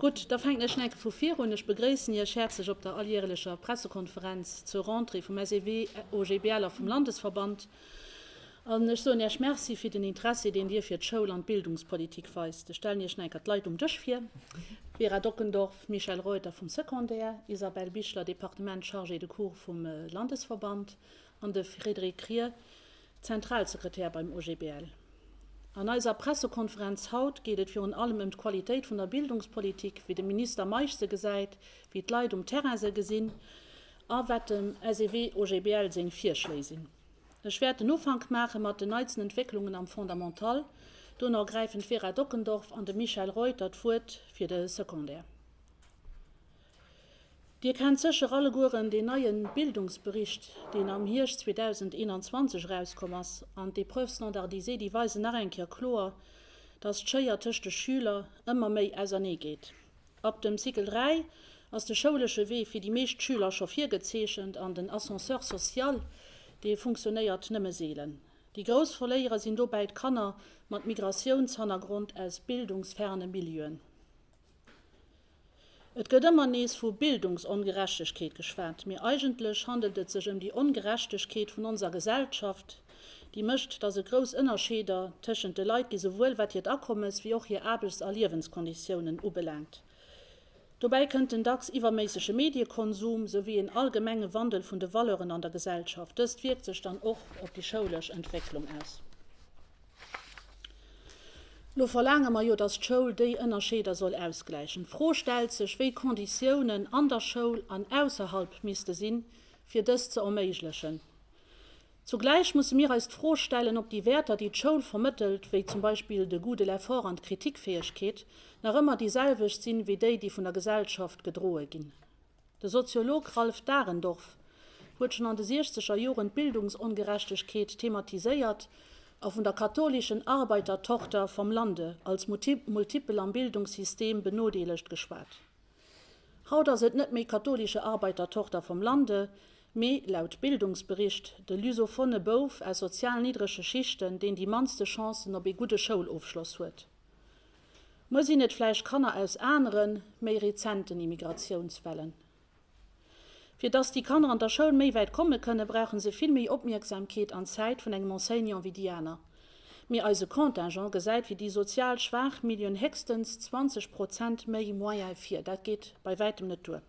Gutt, da fänken ech enke vu vir un. Ech begréissen Iech häerzlech op der alljärelecher Pressekonferenz zur Rentrée vum SEW, OGBL a vum Landesverband. An ech soen Iech Merci fir den Interessi, deen Dir fir d'Schoul an d'Bildungspolitik weist. Ech stellen Iech nach enker d'Leit um Dësch vir, Vera Dockendorf, Michèle Reuter vum Secondaire, Isabelle Bichler, Departement Chargée de Cours vum Landesverband, an de Frédéric Krier, Zentralsekretär beim OGBL. An eiser Pressekonferenz haut geet et virun allem ëm d'Qualitéit vun der Bildungspolitik, wéi de Minister Meisch se gesäit, wéi d'Leit um Terrain se gesinn, a wat dem SEW-OGBL seng Virschléi sinn. Ech wäert den Ufank maache mat den neitsten Entwécklungen am Fondamental, duerno gräifen d'Vera Dockendorf an de Michel Reuter d'Wuert fir de Secondaire. Dir kennt sécher allegueren deen neie Bildungsbericht, deen am Hierscht 2021 erauskomm ass, an d'Epreuves standardisées, déi weisen nach eng Kéier kloer, dass d'Schéier tëscht de Schüler ëmmer méi ausernee geet. Ab dem Cycle 3 ass de schoulesche Wee fir déi meescht Schüler scho virgezeechent an den Ascenseur social, dee funktionéiert nëmme seelen. Déi grouss Verléierer sinn dobäi d'Kanner mat Migratiounshannergrond aus bildungsferne Milieuen. Et gëtt ëmmer nees vu Bildungsongerechtegkeet geschwat, mee eigentlech handelt et sech ëm déi Ongerechtegkeet vun onser Gesellschaft, déi mécht, dass e grouss Ënnerscheeder tëschent de Leit gi souwuel wat hiert Akommes wéi och hir Aarbechts a Liewenskonditiounen ubelaangt. Dobäi kënnt den dacks iwwerméissege Mediekonsum souwéi een allgemenge Wandel vun de Valeuren an der Gesellschaft. Dëst wierkt sech dann och op déi schoulesch Entwécklung aus. Lo verlaange mer jo, dass d'Schoul déi Ënnerscheeder soll ausgläichen. D'Fro stellt sech, wéi Konditiounen an der Schoul an ausserhalb misste sinn, fir dëst ze erméiglechen. Zugläich musse mir eis d'Fro stellen, ob déi Wäerter, déi d'Schoul vermëttelt, wéi zum Beispill de Goût de l'effort an d'Kritikfäegkeet, nach ëmmer déi selwecht sinn, wéi déi, déi vun der Gesellschaft gedroe ginn. De Soziolog Ralph Dahrendorf huet schonn an de siechzeger Joren d'Bildungsongerechtegkeet thematiséiert a vun der katholischen Arbeitertochter vom Lande als multipel am Bildungssystem benodeelegt geschwat. Haut ass et net méi katholische Arbeitertochter vom Lande, mee, laut Bildungsbericht, de lusophone Bouf aus sozial niddrege Schichten, deen déi mannste Chancen op ee gudde Schoulofschloss huet. Muer sinn et vläicht Kanner aus aneren, méi rezenten Immigratiounswellen. Fir dass déi Kanner an der Schoul méi wäit komme kënnen, brauche se vill méi Opmierksamkeet an Zäit vun engem Enseignant wéi déi aner. Mee eise Contingent gesäit fir déi sozial schwaach Milieuen héchstens 20 Prozent méi Moyen vir. Dat geet bei wäitem net duer.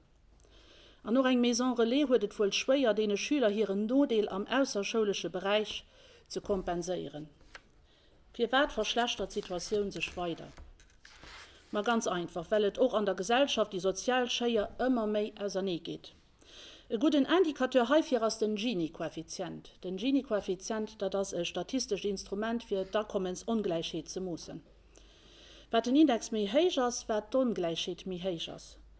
An och eng Maison Relais huet et wuel schwéier, deene Schüler hiren Nodeel am ausserschoulesche Beräich ze kompenséieren. Firwat verschlechtert d'Situatioun sech weider? Ma ganz einfach, well et och an der Gesellschaft déi sozial Schéier ëmmer méi ausernee geet. E gudden Indicateur heifir ass den Gini-Koeffizient. Den Gini-Koeffizient, dat ass e statistescht Instrument fir d'Akommensongläichheet ze moossen. Wat den Index méi héich ass, wat d'Ongläichheet méi héich ass.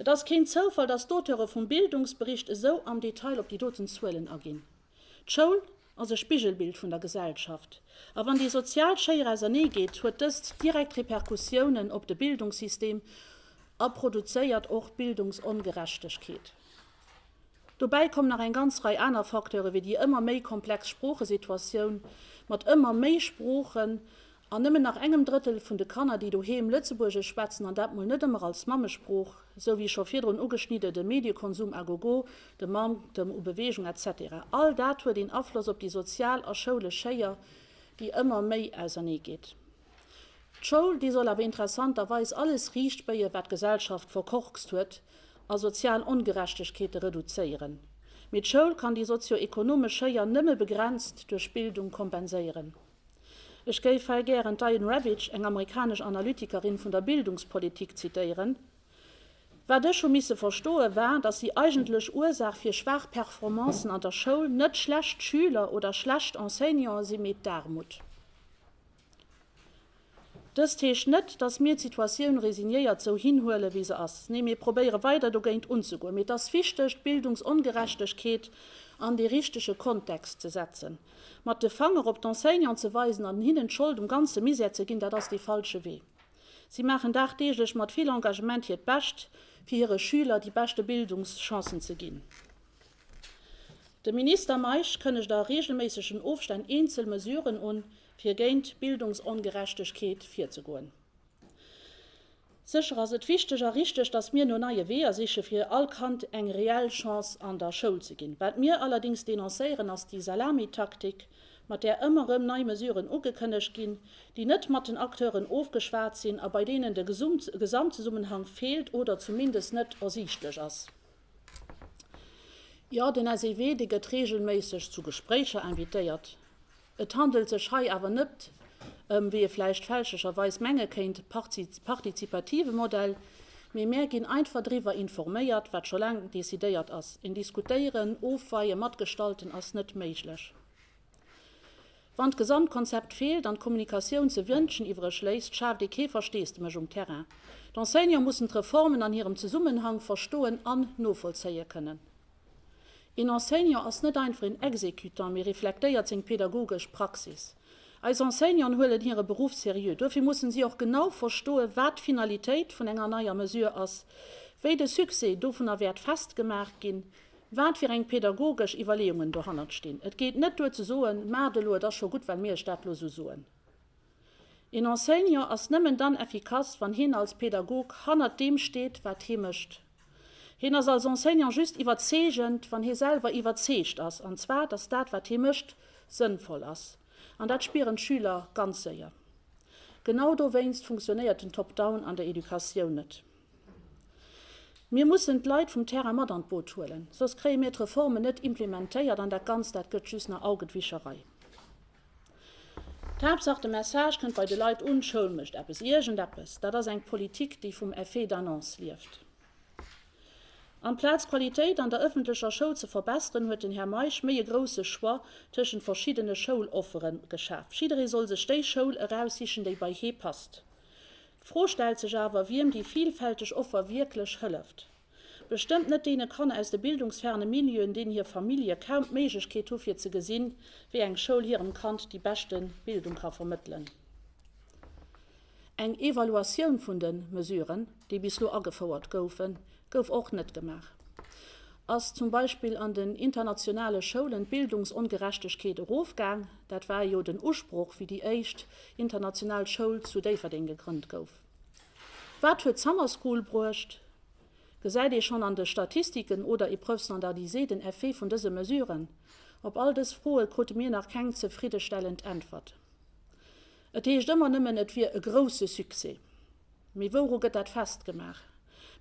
Et ass keen Zoufall, datt d'Auteure vum Bildungsbericht esou am Detail op déi doten Zuelen aginn. D'Schoul ass e Spigelbild vun der Gesellschaft, a wann déi sozial Schéier ausernee geet, huet dëst direkt Repercussiounen op de Bildungssystem a produzéiert och Bildungsongerechtegkeet. Dobäi kommen nach eng ganz Rei aner Facteure wéi déi ëmmer méi komplex Sproochesituatioun mat ëmmer méi Sproochen an nëmmen nach engem Drëttel vun de Kanner, déi doheem Lëtzebuergesch schwätzen, an dat mol net ëmmer als Mammesprooch, sou wéi scho virdrun ugeschnidden, de Mediekonsum à gogo, de Manktem u Beweegung, etc. All dat huet een Afloss op déi sozial a schoulesch Schéier, déi ëmmer méi auserneegeet. D'Schoul, déi soll awer interessanterweis alles riicht béie wat d'Gesellschaft verkorkst huet a sozial Ongerechtegkeete reduzéieren. Mee d'Schoul kann déi sozio-ekonomesch Schéier nëmme begrenzt duerch Bildung kompenséieren. Ech géif hei gären d'Diane Ravitch, eng amerikanesch Analytikerin vun der Bildungspolitik zitéieren, Wat ech hu misse verstoe war, datt déi eigentlech Ursaach fir schwaach Performancen an der Schoul net schlecht Schüler oder schlecht Enseignante si mee d'Aarmut. Dëst heescht net, datt mir d'Situatioun resignéiert sou hinhuele wéi se ass. Nee, mir probéiere weider dogéint unzegoen. Mee et ass wichteg, d'Bildungsongerechtegkeet an dee richtege Kontext ze setzen. Mat de Fanger op d'Enseignanten ze weisen an hinnen d'Schold um ganze Misär ze ginn, dat ass dee falsche Wee. Si maachen dagdeeglech mat vill Engagement hiert Bescht, fir hire Schüler déi beschte Bildungschancen ze ginn. De Minister Meisch kënnegt a reegelméissegen Ofstänn eenzel Mesuren un, fir géint Bildungsongerechtegkeet virzegoen. Sécher ass et wichteg a richteg, datt mir no neie Weeër siche fir all Kand eng reell Chance an der Schoul ze ginn. Wat mir allerdéngs denoncéieren, ass déi Salamitaktik, mat där ëmmer erëm nei Mesuren ugekënnegt ginn, déi net mat den Acteuren ofgeschwat sinn a bei deenen de Gesamtzesummenhang feelt oder zumindest net ersiichtlech ass. Jo, den SEW, dee gëtt reegelméisseg zu Gespréicher invitéiert. Et handelt sech hei awer net ëm, wéi ee vläicht fälschlecherweis menge kéint, partizipative Modell, mee mär ginn einfach driwwer informéiert, wat scho laang decidéiert ass. Een Diskutéieren, Ofweien, Matgestalten ass net méiglech. Wann d'Gesamtkonzept feelt an d'Kommunikatioun ze wënschen iwwereg léisst, schaaft ee kee Versteesdemech um Terrain. D'Enseignante mussen d'Reformen an hirem Zesummenhang verstoen an novollzéie kënnen. Een Enseignant ass net einfach een Exécutant, mee reflektéiert seng pedagogesch Praxis. Eis Enseignanten huelen hire Beruff seriö. Duerfir mussen si och genau verstoen, wat d'Finalitéit vun enger neier Mesure ass, wéi de Succès dovunner wäert festgemaach ginn, wat fir eng pädagogesch Iwwerleeungen dohannert stinn. Et geet net duer ze soen, maacht elo, et ass scho gutt, well mir iech dat elo esou soen. Een Enseignant ass nëmmen dann effikass, wann hien als Pädagog hannert deem steet, wat hie mécht. Hien ass als Enseignant just iwwerzeegend, wann hie selwer iwwerzeegt ass, an zwar, dass dat, wat hie mécht, sënnvoll ass. An dat spieren d'Schüler ganz séier. Genau dowéinst funktionéiert den Top-Down an der Educatioun net. Mir mussen d'Leit vum Terrain mat an d'Boot huelen, soss kréie mir d'Reformen net implementéiert an dat Ganzt, dat gëtt just nach Augetwischerei. D'Haaptsaach, de Message kënnt bei de Leit un, D'Schoul mécht eppes, iergendeppes. Dat ass eng Politik, déi vum Effet d'annonce lieft. Amplaz d'Qualitéit an der ëffentlecher Schoul ze verbesseren, huet den Här Meisch méi e grousse Choix tëschent verschiddene Schouloffere geschaf. Jidderee soll sech déi Schoul eraussichen, déi bei hee passt. D'Fro stellt sech awer, wiem déi vielfälteg Offer wierklech hëlleft. Bestëmmt net deene Kanner aus de bildungsferne Milieuen, deen hir Famillje kaum d'Méiglechkeet hu fir ze gesinn, wéi eng Schoul hirem Kand déi beschte Bildung ka vermëttelen. Eng Evaluatioun vun de Mesuren, déi bis lo agefouert goufen, Gouf och net gemaach. Ass zum Beispill an den internationale Schoulen d'Bildungsongerechtegkeet erofgaang? Dat war jo den Usproch, wéi déi éischt international Schoul zu Déifferdeng gegrënnt gouf. Wat huet d'Summer School bruecht? Gesäit ee schonn an de Statistiken oder Épreuves standardisées den Effet vun dëse Mesuren? Op all dës Froe krute mir nach keng zefriddestellend Äntwert. Et heescht ëmmer nëmmen, et wier e grousse Succès. Mee wouru gëtt dat festgemaach?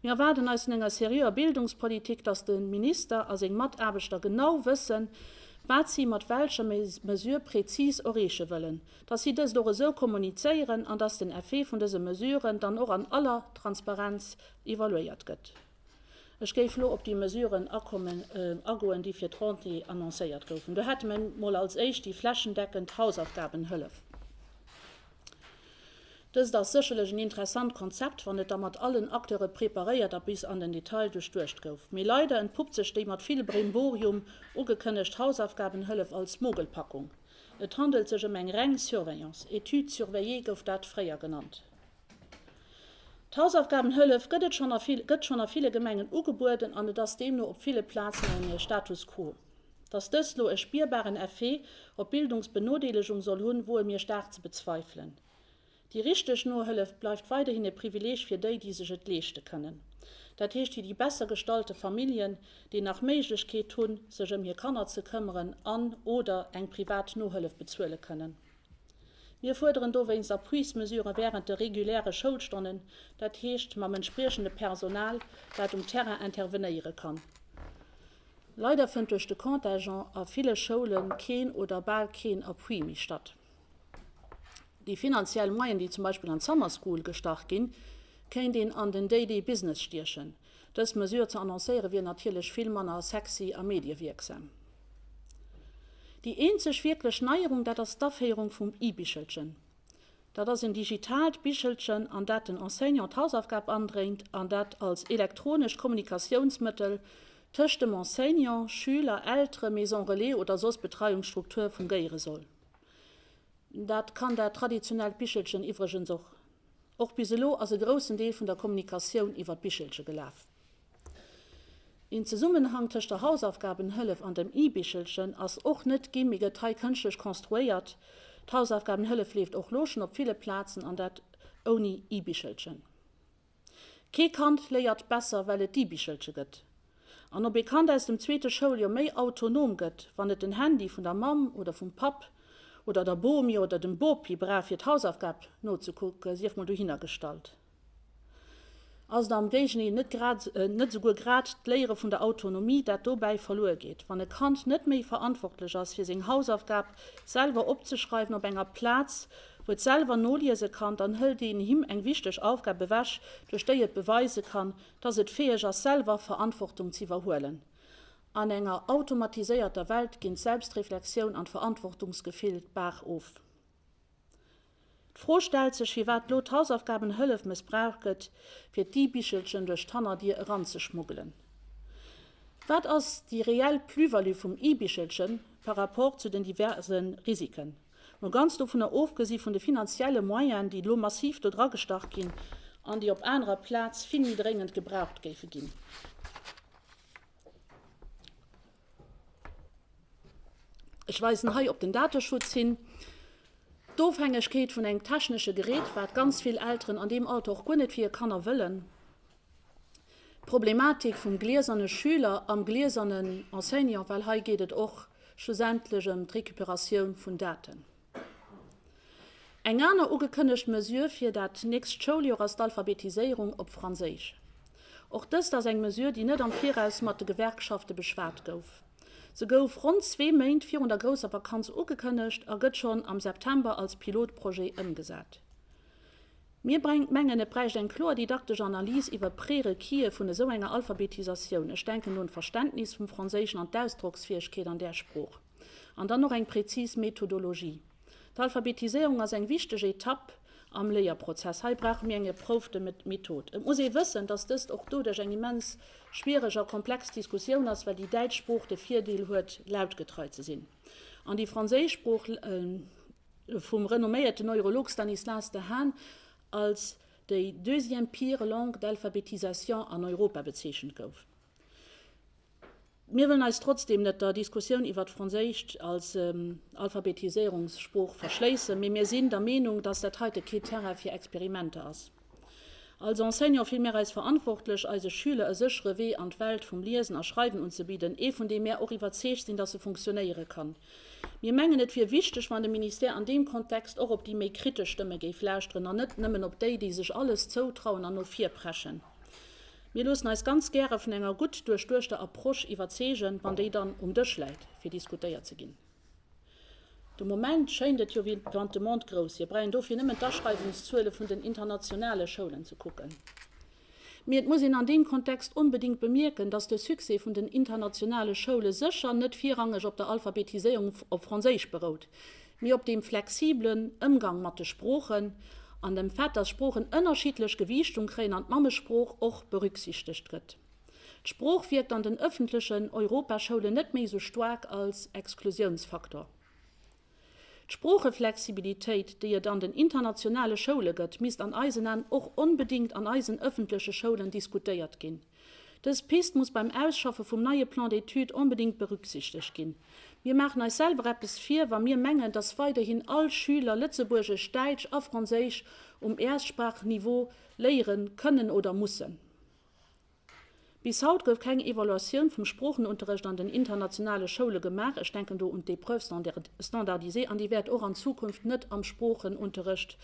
Mir erwaarden eis vun enger seriöer Bildungspolitik, dass de Minister a seng Mataarbechter genau wëssen, wat si mat welcher Mesure prezis erreeche wëllen, dass si dëst och esou kommunizéieren an dass den Effet vun dëse Mesuren dann och an aller Transparenz evaluéiert gëtt. Ech géif elo op déi Mesuren agoen, déi fir d'Rentrée annoncéiert goufen. Do hätte mer emol als Éischt déi flächendeckend Hausaufgabenhëllef. Dëst ass sécherlech en interessant Konzept, wann et da mat allen Acteure preparéiert a bis an den Detail duerchduecht gouf. Mee leider entpuppt sech déi mat vill Brimborium ugekënnegt Hausaufgabenhëllef als Mogelpackung. Et handelt sech ëm eng reng Surveillance, Étude surveillée gouf dat fréier genannt. D'Hausaufgabenhëllef gëtt et schonn a vill gëtt schonn a ville Gemengen ugebueden an et ass deemno op ville Plazen e Status quo. Datt dëst lo e spierbaren Effet op d'Bildungsbenodeelegung soll hunn, woe mir staark ze bezweifelen. Déi richteg Nohëllef bleift weiderhin e Privileg fir déi, déi sech et leeschte kënnen, dat heescht fir déi besser gestallte Familljen, déi nach Méiglechkeet hunn, sech ëm hir Kanner ze këmmeren an, oder eng privat Nohëllef bezuele kënnen. Mir fuerderen dowéinst Appuis-Mesurë wärend de reguläre Schoulstonnen, dat heescht mam entspriechende Personal, dat um Terrain intervenéiere kann. Leider fënnt duerch de Contingent a ville Schoule keen oder bal keen Appui méi statt. Déi finanziell Moyene, déi zum Beispill an d'Summer School gestach ginn, kéint een an den Daily Business stiechen. Dës Mesure ze annoncéiere wier natierlech vill manner sexy a mediewierksam. Déi eenzeg wierklech Neierung, dat ass d'Aféierung vum E-Bichelchen. Dat ass en digitaalt Bichelchen, an dat den Enseignant d'Hausaufgab andréint an dat als elektronescht Kommunikatiounsmëttel tëscht dem Enseignant, Schüler, Eltere, Maison Relais oder soss Betreiungsstruktur fungéiere soll. Dat kann dat traditionellt Bichelchen iwwregens och. Och bis elo ass e groussen Deel vun der Kommunikatioun iwwer d'Bichelche gelaf. Een Zesummenhang tëscht der Hausaufgabenhëllef an dem i-Bichelchen ass och net gi mee gëtt hei kënschtlech konstruéiert. D'Hausaufgabenhëllef leeft och lo schonn op ville Plazen an dat ouni i-Bichelchen. Kee Kand léiert besser well et d'i-Bichelche gëtt. An ob ee Kand aus dem zweete Schouljoer méi autonom gëtt, wann et den Handy vun der Mamm oder vum Papp oder der Bomi oder dem Bopi brauch fir d'Hausaufgab nozekucke sief mol dohinnergestallt. Ass et am Géigendeel net grad, net esouguer grad d'Léiere vun der Autonomie, dat dobäi verluer geet, wann e Kand net méi verantwortlech ass, fir seng Hausaufgab selwer opzeschreiwen op enger Plaz, wou et selwer noliese kann, dann hëlt een him eng wichteg Aufgab ewech, duerch déi et beweise kann, dass et fäeg ass, selwer Verantwortung z'iwwerhuelen. An enger automatiséierter Welt ginn d'Selbstreflexioun an d'Verantwortungsgefill d'Baach of. D'Fro stellt sech, firwat lo d'Hausaufgabenhëllef mëssbraucht gëtt, fir d'E-Bichelchen duerch d'Hannerdier eranzeschmuggelen. Wat ass déi reell Plus-value vum E-Bichelchen par rapport zu den diverse Risiken? Mol ganz dovunner ofgesi vun de finanzielle Moyene, déi elo massiv do dragestach ginn an déi op anerer Plaz vill méi dréngend gebraucht géife ginn. Ech weisen hei op den Dateschutz hin. D'Ofhängegkeet vun engem technesche Gerät, wat ganz vill Elteren an deem Alter och guer net fir hir Kanner wëllen. D'Problematik vum glieserne Schüler am gliesernen Enseignant, well hei geet et och schlussendlech ëm d'Recuperatioun vun Daten. Eng aner ugekënnegt Mesure fir dat nächst Schouljoer ass d'Alphabetiséierung op Franséisch. Och dëst ass eng Mesure, déi net am Viraus mat de Gewerkschafte beschwat gouf. Se gouf ronn zwee Méint virun der grousser Vakanz ugekënnegt a gëtt schonn am September als Pilotprojet ëmgesat. Mir brengt, mengen, et bräicht eng kloer didaktesch Analys iwwer d'Prérequisë vun esou enger Alphabetisatioun, ech denken un d'Verständnis vum Franséischen an d'Ausdrocksfäegkeet an där Sprooch, an dann och eng präzis Methodologie. D'Alphabetiséierung ass eng wichteg Etapp am Léierprozess. Hei brauche mir eng erproufte Method. Et muss ee wëssen, dass dëst och doduerch eng immens schwiereg a komplex Diskussioun ass, well déi däitsch Sprooch de Virdeel huet, lautgetrei ze sinn. An déi franséischsprooch vum renomméierten Neurolog Stanislas Dehaene als déi deuxième pire langue d'alphabétisation an Europa bezeechent gouf. Mir wëllen eis trotzdeem net der Diskussioun iwwert d'Franséischt als Alphabetiséierungssprooch verschléissen, mee mir sinn der Meenung, dass dat heite kee Terrain fir Experimenter ass. Als Enseignant fille mär eis verantwortlech, eise Schüler e séchere Wee an d'Welt vum Liesen a Schreiwen unzebidden, ee vun deem mär och iwwerzeegt sinn, dass e funktionéiere kann. Mir mengen, et wier wichteg, wann de Ministère an deem Kontext och op déi méi kritesch Stëmme géif lauschteren an net nëmmen op déi, déi sech alles zoutrauen an no vir preschen. Mir loossen eis ganz gäre vun enger gutt duerchduechter Approche iwwerzeegen, wann déi dann um Dësch läit, fir diskutéiert ze ginn. De Moment schéint et jo wéi wann de Monde grouss wier. Brengen dofir nëmmen d'Aschreiwungszuele vun den internationale Schoulen ze kucken. Mee et muss een an deem Kontext onbedéngt bemierken, datt de Succès vun den internationale Schoule sécher net virrangeg op der Alphabetiséierung op Franséisch berout, mee op deem flexibelen Ëmgang mat de Sproochen an dem Fait, datt Sproochen ënnerschiddlech Gewiichtung kréien an d'Mammesprooch och berücksichtegt gëtt. D'Sprooch wierkt an den ëffentlechen Europaschoulen net méi esou staark als Exklusiounsfaktor. D'Sproocheflexibilitéit, déi et an den internationale Schoule gëtt, misst an eisen An och onbedéngt an eisen ëffentleche Schoulen diskutéiert ginn. Dës Pist muss beim Ausschaffe vum neie Plan d'études onbedéngt berücksichtegt ginn. Mir maachen eis selwer eppes vir, wa mir mengen, dass weiderhin all Schüler Lëtzebuergesch, Däitsch a Franséisch um Erstsprachniveau léiere kënnen oder mussen. Bis haut gouf keng Evaluatioun vum Sproochenunterrecht an den internationale Schoule gemaach. Ech denken do un d'Épreuves standardisées an déi wäert och an Zukunft net am Sproochenunterrecht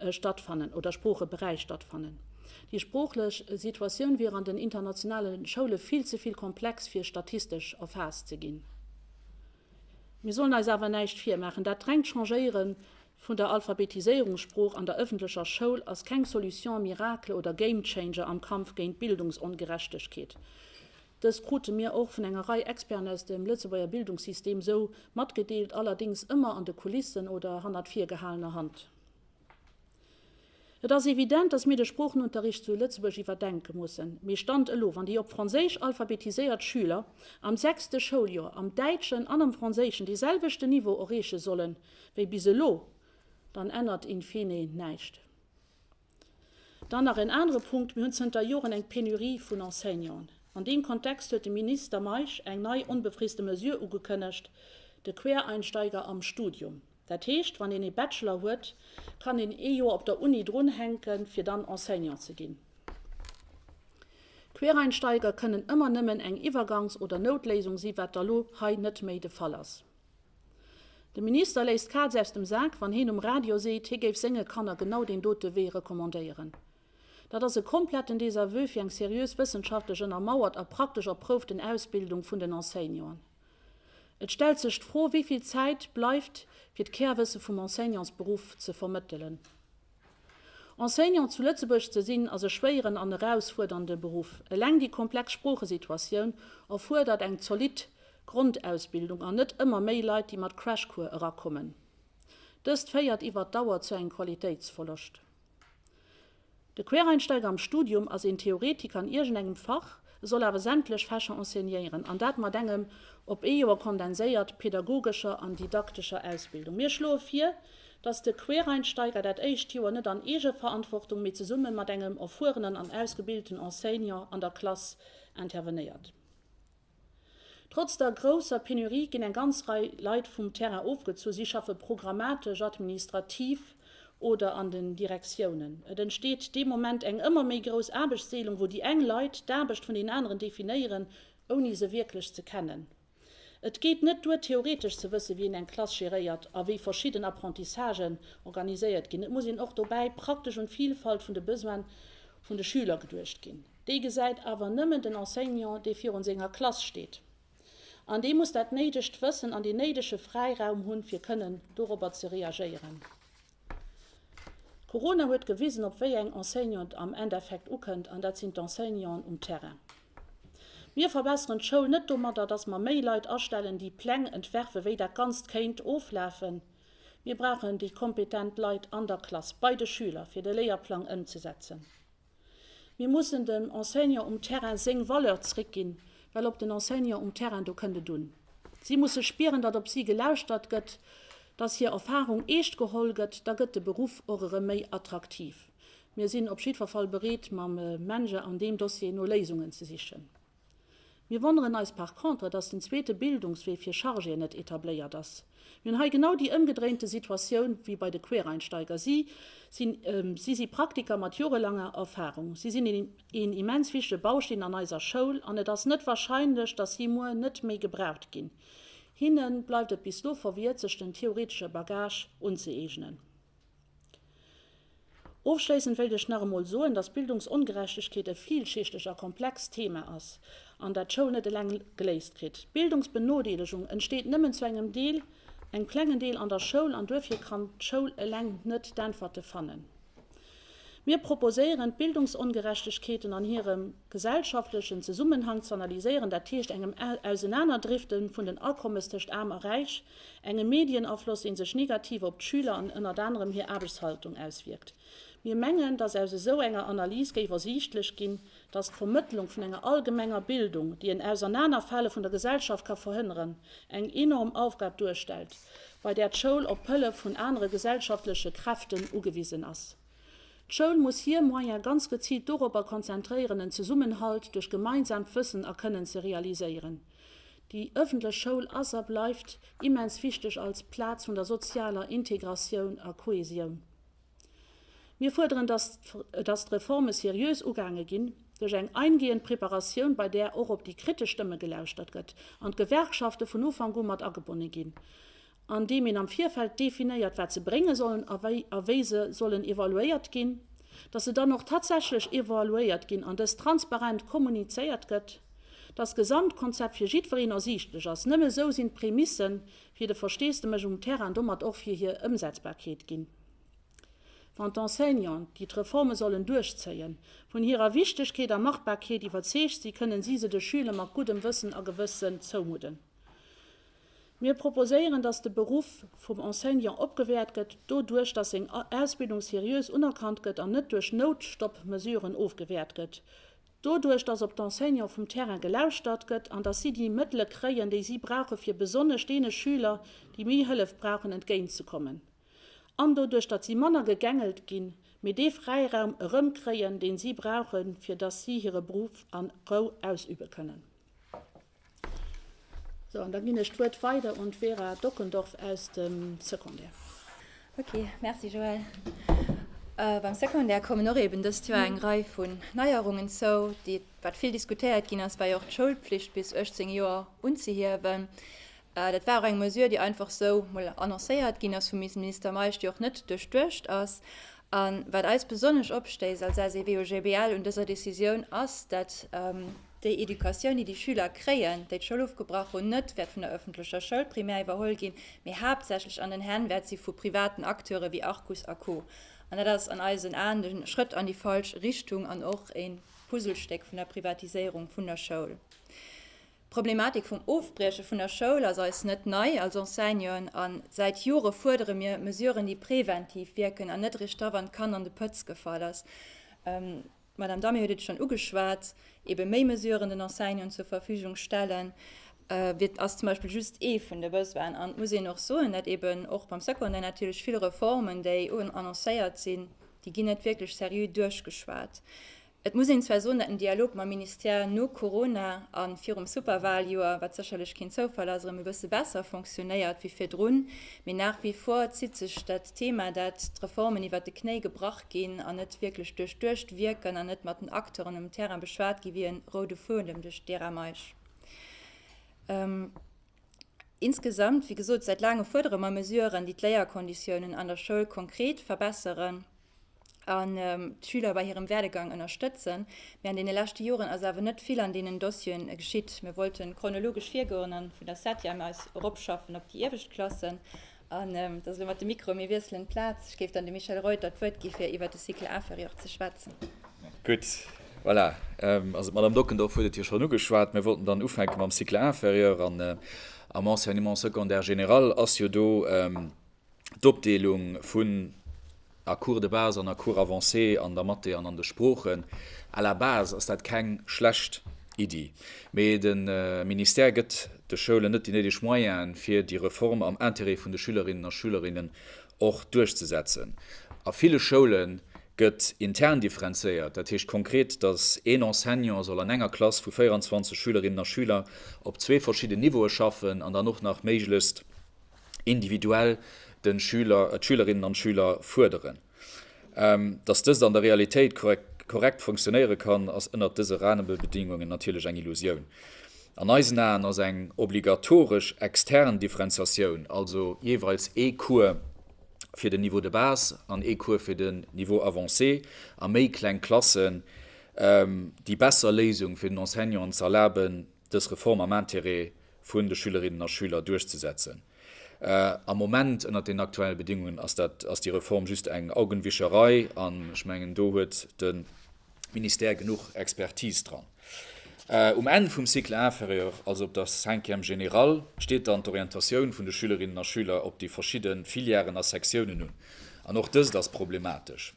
stattfannen oder Sproocheberäich stattfannen. Déi sproochlech Situatioun wier an den internationale Schoule vill ze vill komplex fir statistesch erfaasst ze ginn. Mir sollen eis awer näischt virmaachen, dat rengt Changéiere vun der Alphabetiséierungssprooch an der ëffentlecher Schoul ass keng Solution miracle oder Game Changer am Kampf géint d'Bildungsongerechtegkeet. Dëst krute mir och vun enger Rei Experten aus dem Lëtzebuerger Bildungssystem esou matgedeelt, allerdéngs ëmmer an de Kulissen oder hannert virgehalener Hand. Et ass evident, dass mir de Sproochenunterricht zu Lëtzebuerg iwwerdenke mussen. Mee Stand elo, wann déi op Franséisch alphabetiséiert Schüler am sechste Schouljoer am Däitschen an am Franséischen dee selwechten Niveau erreeche sollen, wéi bis elo, dann ännert in fine näischt. Dann nach en anere Punkt, Mir hunn zënter Joren eng Penurie vun Enseignanten. An deem Kontext huet de Minister Meisch eng nei onbefriste Mesure ugekënnegt, de Quereinsteiger am Studium. Dat heescht, wann een ee Bachelor huet, kann een ee Joer op der Uni drunhänken, fir dann Enseignant ze ginn. Quereinsteiger kënnen ëmmer nëmmen eng Iwwergangs oder Noutléisung si wat da lo hei net méi de Fall ass. De Minister léisst d'Kaz aus dem Sak, wann heen um Radio seet, hie géif senge Kanner genau deen dote Wee recommandéieren. Dat ass e kompletten Désaveu fir eng seriös wëssenschaftlech ënnermauert a praktesch erprouften Ausbildung vun den Enseignanten. Et stellt sech d'Fro, wéi vill Zäit bleift, fir d'Kärwësse vum Enseignantsberuff ze vermëttelen. Enseignant zu Lëtzebuerg ze sinn, ass e schwéieren an erausfuerdernde Beruff. Eleng déi komplex Sproochesituatioun erfuerdert eng zolidd Grondausbildung an net ëmmer méi Leit, déi mat Crashcours erakommen. Dëst féiert iwwert d'Dauer zu engem Qualitéitsverloscht. De Quereinsteiger am Studium ass een Theoretiker an iergendengem Fach, soll awer sämtlech Fächer enseignéieren, an dat mat engem op ee Joer kondenséiert pädagogescher an didaktescher Ausbildung. Mir schloe vir, dass de Quereinsteiger dat éischt Joer net an Eegeverantwortung, mee zesumme mat engem erfuerenen an ausgebilten Enseignant an der Klass intervenéiert. Trotz der grousser Penurie ginn eng ganz Rei Leit vum Terrain ofgezu. Si schaffe programmatesch, administrativ oder an den Direktiounen. Et entsteet dee Moment eng ëmmer méi grouss Aarbechtsdeelung, wou déi eng Leit d'Aarbecht vun den aneren definéieren, ouni se wierklech ze kennen. Et geet net duer, theoretesch ze wësse wien eng Klass geréiert a wéi verschidden Apprentissagen organiséiert ginn. Et muss een och dobäi praktesch un d'Vilfalt vun de Besoine vun de Schüler geduecht ginn. Déi gesäit awer nëmmen den Enseignant, dee virun senger Klass steet. An dee muss dat néidegt Wëssen an dee néidege Fräiraum hunn, fir kënnen dorobber ze reagéieren. Corona huet gewisen, op wéi eng Enseignanten et am Endeffekt ukënnt, an dat sinn d'Enseignanten um Terrain. Mir verbesseren d'Schoul net domadder, dass mer méi Leit astellen, déi Pläng entwerfen, wéi dat Ganzt kéint oflafen. Mir brauchen déi kompetent Leit an der Klass, bei de Schüler, fir de Léierplang ëmzesetzen. Mir mussen dem Enseignant um Terrain séng Valeur zréckginn, well op den Enseignant um Terrain, do kënnt et un. Si musse spieren, datt op si gelauschtert gëtt, datt hir Erfarung eescht geholl gëtt, da gëtt de Beruff och erëm méi attraktiv. Mir sinn op jiddwer Fall bereet, mam MENJE an deem Dossier no Léisungen ze sichen. Mir wonneren eis par contre, dass den zweete Bildungswee fir Chargéen net etabléiert ass. Mir hunn hei genau déi ëmgedréinte Situatioun wéi bei de Quereinsteiger. Si sinn, si si Praktiker mat jorelanger Erfahrung. Si sinn een immens wichtige Bausteen an eiser Schoul an et ass net wahrscheinlech, dass si muer net méi gebraucht ginn. Hinne bleift et bis do verwiert, sech den theoretesche Bagage unzëeegnen. Ofschléissend wéilt ech nach emol soen, dass Bildungsongerechtegkeet e villschichteg a komplext Thema ass, an dat d'Schoul net eleng geléist kritt. Bildungsbenodeelegung entsteet nëmmen zu engem Deel, engem klengen Deel, an der Schoul, an duerfir kann d'Schoul eleng net d'Äntwerte fannen. Mir proposéieren, d'Bildungsongerechtegkeeten an hirem gesellschaftlechen Zesummenhang z'analyséieren, dat heescht engem Ausenanerdrifte vun den Akommes tëscht Aarm a Räich, Engem Medienafloss, dee sech negativ op d'Schüler an ënnert anerem hir Aarbechtshaltung auswierkt. Mir mengen, dass aus esou enger Analys géif ersiichtlech ginn, dass d'Vermëttlung vun enger allgemenger Bildung, déi en Ausernanerfale vun der Gesellschaft ka verhënneren, eng enorm Aufgab duerstellt, bei där d'Schoul op d'Hëllef vun anere gesellschaftleche Kräften ugewisen ass. D'Schoul muss hir Moyen ganz geziilt doropper konzentréieren, en Zesummenhalt duerch gemeinsaamt Wëssen a Kënnen ze realiséieren, Déi ëffentlech Schoul ass a bleift immens wichteg als Plaz vun der sozialer Integratioun a Kohäsioun. Mir fuerderen, dass dass d'Reforme seriös ugaange ginn, duerch eng eingehend Preparatioun, bei där och op déi kritesch Stëmme gelauschtert gëtt, an d'Gewerkschafte vun Ufank u mat agebonne ginn. an deem een am Virfeld definéiert, wat se brénge sollen a wéi se sollen evaluéiert ginn, dass se dann och tatsächlech evaluéiert ginn an dëst transparent kommunizéiert gëtt, dass d'Gesamtkonzept fir jiddwereen ersiichtlech ass. Nëmme esou sinn d'Prémisse fir de Versteesdemech um Terrain an domat och fir hir Ëmsetzbarkeet ginn. Wann d'Enseignanten, déi d'Reforme sollen duerchzéien, vun hirer Wichtegkeet a Machbarkeet iwwerzeegt sinn, kënnen si se de Schüler mat guddem Wëssen a Gewëssen zoumudden. Mir proposéieren, dass de Beruff vum Enseignant opgewäert gëtt, doduerch dass seng Ausbildung seriös unerkannt gëtt an net duerch Noutstoppmesuren ofgewäert gëtt, doduerch dass op d'Enseignante vum Terrain gelauschtert gëtt an dass si déi Mëttele kréien, déi si brauche fir besonnesch deene Schüler, déi méi Hëllef brauchen, entgéintzekommen an doduerch datt si manner gegängelt ginn, mee dee Fräiraum erëmkréien, deen si brauchen, fir dass si hire Beruff a Rou ausübe kënnen. Sou, an da ginn ech d'Wuert weider un d'Vera Dockendorf aus dem Secondaire. Ok, Merci Joëlle. Beim Secondaire kommen och eben dëst Joer eng Rei vun Neierungen zou, déi wat vill diskutéiert ginn ass, war jo och d'Schoulpflicht bis 18 Joer unzehiewen. Dat war och eng Mesure, déi einfach sou mol annoncéiert ginn ass vum Minister Meisch, déi och net duerchduecht ass. A wat eis besonnesch opstéisst als SEW-OGBL un dëser Decisioun ass, dat, déi Educatioun, déi déi Schüler kréien, déi d'Schoul ofgebrach hunn, net wäert vun der öffentlecher Schoul primär iwwerholl ginn, mee haaptsächlech an den Hänn wäert si vu privaten Acteure wéi Arcus a Co. An dat ass an eisen Aen e Schrëtt an déi falsch Richtung an och e Puzzlestéck vun der Privatiséierung vun der Schoul. D'Problematik vum Ofbrieche vun der Schoul ass eis net nei als Enseignanten a säit Jore fuerdere mir Mesuren, déi preventiv wierken an net eréischt da, wann d'Kann an de Pëtz gefall ass, D'Madame Damier huet et schonn ugeschwat, ebe méi Mesuren den Enseignanten zur Verfügung stellen, wier, ass zum Beispill just ee vun de Besoinen. An et muss een och soen, datt eben och beim Secondaire natierlech vill Reformen, déi annoncéiert sinn, déi ginn net wierklech seriö duerchgeschwat. Et muss een zwar soen, datt den Dialog mam Ministère no Corona a virum Superwaljoer, wat sécherlech keen Zoufall ass, erëm e bësse besser fonctionéiert wéi virdrun, mee nach wie vor zitt sech dat Thema, dat d'Reformen iwwert de Knéi gebrach, ginn an net wierklech duerchduecht wierken an net mat den Acteuren um Terrain beschwat gi wéi e roude Fuedem duerch d'Era Meisch. Insgesamt, wéi gesot, säit laange fuerdere mer Mesuren, déi d'Léierkonditiounen an der Schoul konkret verbesseren an d'Schüler bei hirem Werdegang ënnerstëtzen. Mee an deene leschte Joren ass awer net vill an deenen Dossieren geschitt. Mir wollten chronologesch virgoen a vun der Septième aus eropschaffen op déi iewescht Klassen. An et ass elo mat de Mikroe, mir wiesselen d'Plaz. Ech géif dann dem Michel Reuter d'Wuert gi fir iwwer de Cycle inférieur ze schwätzen. Gutt, voilà, also d'Madame Dockendorf huet et jo schonn ugeschwat. Mir wollten dann ufänke mam Cycle inférieur an am Enseignement secondaire général ass jo do d'Opdeelung vun, A Cours de base an a Cours avancé an der Mathé an an de Sproochen. À la base ass dat keng schlecht Iddi, mee de Ministère gëtt de Schoulen net déi néideg Moyenen, fir déi Reform am Interêt vun de Schülerinnen a Schülerinnen och duerchzesetzen. A ville Schoule gëtt intern differenzéiert, dat heescht konkret, dass een Enseignant soll an enger Klass vu 24 Schülerinnen a Schüler op zwee verschidden Niveaue schaffen an dann och nach méiglechst, individuell den Schüler, d'Schülerinnen an d'Schüler fuerderen. Dass dëst an der Realitéit korrekt funktionéiere kann, ass ënnert dëse Rahmenbedingungen natierlech eng Illusioun. An eisen Aen ass eng obligatoresch extern Differenziatioun, also jeeweils ee Cours fir den Niveau de base an ee Cours fir den Niveau avancé a méi kleng Klassen, déi besser Léisung fir den Enseignant, ze erlaben, dës Reform am Intérêt vun de Schülerinnen a Schüler duerchzesetzen. Am Moment, ënnert deenen aktuellen Bedingungen, ass dat, ass déi Reform just eng Augenwischerei, an ech mengen, do huet de Ministère genuch Expertise dran. Um Enn vum Cycle inférieur, also op der Cinquième générale, steet dann d'Orientatioun vun de Schülerinnen a Schüler op déi verschidde Filièren a Sektiounen un, an och dëst ass problematesch.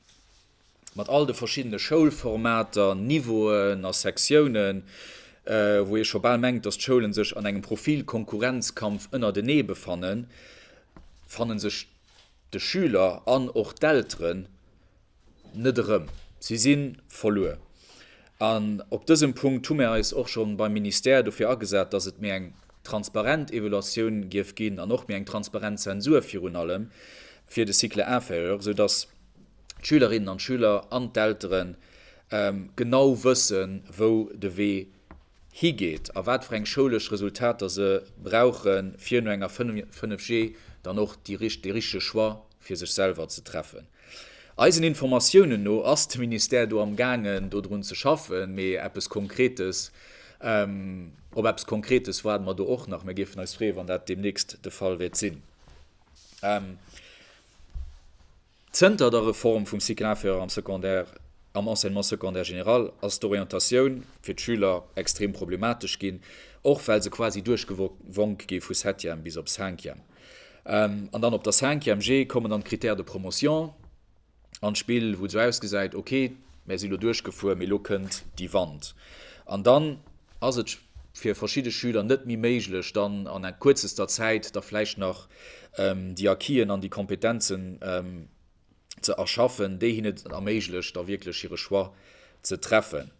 mat all de verschiddene Schoulformater, Niveauen a Sektiounen, wou ee scho bal mengt, dass d'Schoulen sech an engem Profilkonkurrenzkampf ënnertenee befannen, fanne sech de Schüler an och d'Elteren net erëm. Si si verluer. An op dësem Punkt hu mir eis och scho beim Ministère dofir agesat, dass et méi eng transparent Evaluatioun géif ginn an och méi eng transparent Zensur virun allem fir de Cycle inférieur, esou dass, d'Schülerinnen an d'Schüler an d'Eltere genau wëssen, wou de Wee higeet a wat fir eng schoulesch Resultater se brauchen, fir no enger 5G dann och dee richtege Choix fir sech selwer ze treffen. Eisen Informatiounen no ass de Ministère do amgaangen, dodrun ze schaffen, mee op eppes Konkretes waarde mer do och nach. Mir géifen eis freeë wann dat deemnächst de Fall wäert sinn. Zënter der Reform vum Cycle inférieur am Secondaire, am Enseignement secondaire général, ass d'Orientatioun fir d'Schüler extrem problematesch ginn, och well se quasi duerchgewonk gi vu Septième bis op Cinquième. An dann op der Cinquième G kommen dann d'Critères de promotion an d'Spill, wou et esou ausgesäit, ok, mär si lo duerchgefuer, mee lo kënnt déi Wand. An dann. Ass et fir verschidde Schüler net méi méiglech, dann an en kuerzester Zäit da vläicht nach déi Acquisen an déi Kompetenzen ze erschaffen, déi hinnen et erméiglecht, da wierklech hire Choix ze treffen?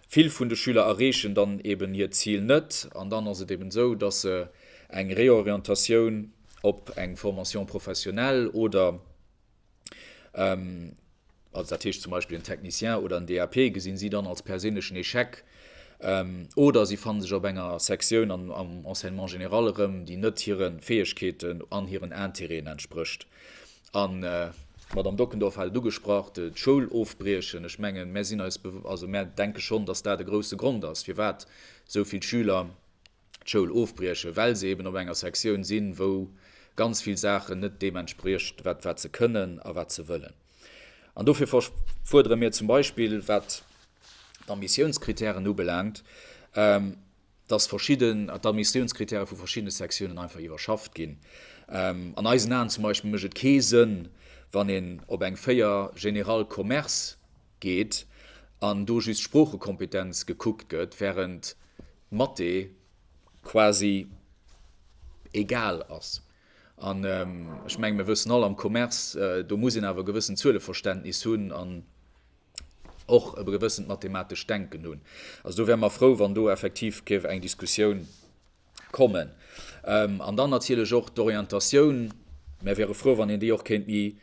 Vill vun de Schüler erreechen dann eben hiert Zil net an dann ass et eben esou, dass se eng Réorientatioun op eng Formation professionnelle oder also dat heescht zum Beispill en Technicien oder en DAP, gesinn si dann als perséinlechen Echec oder si fanne sech op enger Sektioun am Enseignement général erëm, déi net hire Fäegkeeten an hiren Intérêten entsprécht. An d'Madamm Dockendorf hat et ugesprach, d'Schoul ofbriechen. Ech mengen, mir sinn eis, also mir denke schonn, dass dat e grouse Grond ass, firwat esou vill Schüler d'Schoul ofbriechen, well se eben op enger Sektioun sinn, wou ganz vill Saachen net deem entspriecht, wat wat se kënnen a wat se wëllen. An dofir fuerdere mir zum Beispill, wat d'Admissiounskritären ubelaangt, dass verschidde d'Admissiounskritäre vu verschiddene Sektiounen einfach iwwerschafft ginn. An eisen Aen zum Beispill mécht et kee Sënn, wann een op eng 4 General Commerce geet an do just Sproochekompetenz gekuckt gëtt, während, Mathé quasi egal ass. An ech mengen, mir wëssen all, am Commerce, do muss een awer e gewëssent Zueleverständnis hunn an och e gewëssent mathematescht Denken hunn. Also do wäre mer frou, wann do effektiv géif eng Diskussioun kommen. An dann natierlech och d'Orientatioun. Mir wäre frou, wann een déi och kéint méi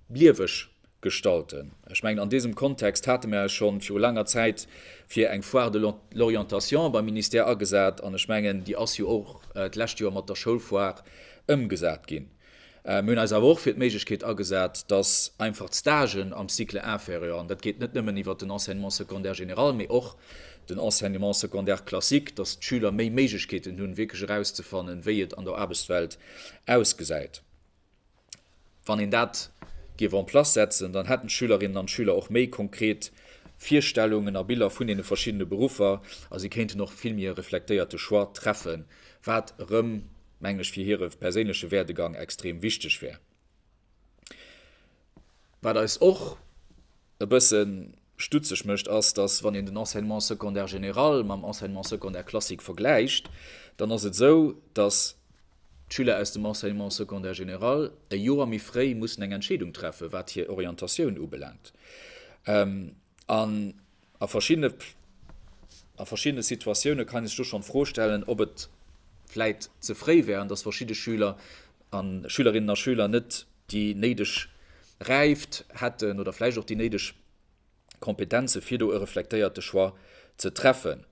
lieweg gestalten. Ech mengen, an deesem Kontext hate mer eis scho viru laanger Zäit fir eng Foire de l'orientation beim Ministère agesat, an ech mengen, déi ass jo och d'lescht Joer mat der Schoulfoire ëmgesat ginn. Mir hunn eis awer och fir d'Méiglechkeet agesat, dass einfach d'Stagen am Cycle inférieur, an dat geet net nëmmen iwwert den Enseignement secondaire général, mee och den Enseignement secondaire classique, dass d'Schüler méi Méiglechkeeten hunn, wierklech erauszefannen, wéi et an der Aarbechtswelt ausgesäit. Wann een dat géif en place setzen, dann hätten d'Schülerinnen an d'Schüler och méi konkret Virstellungen a Biller vun deene verschiddene Beruffer a si kéinten och e vill méi reflektéierte Choix treffen, wat erëm, mengen ech, fir hire perséinleche Werdegang extrem wichteg wär. Wat eis och e bësse stutzeg mécht, ass, dass, wann een den Enseignement secondaire général mam Enseignement secondaire classique vergläicht, dann ass et esou, dass d'Schüler aus dem Enseignement secondaire général e Joer méi fréi mussen eng Entscheedung treffen, wat hir Orientatioun ubelaangt. An A verschiddene Situatioune kann ee sech do schonn d'Fro stellen, ob et vläit ze fréi wär an dass verschidde Schüler a Schülerinnen a Schüler net déi néideg Räift hätten oder vläicht och déi néideg Kompetenze fir do e reflektéierte Choix ze treffen.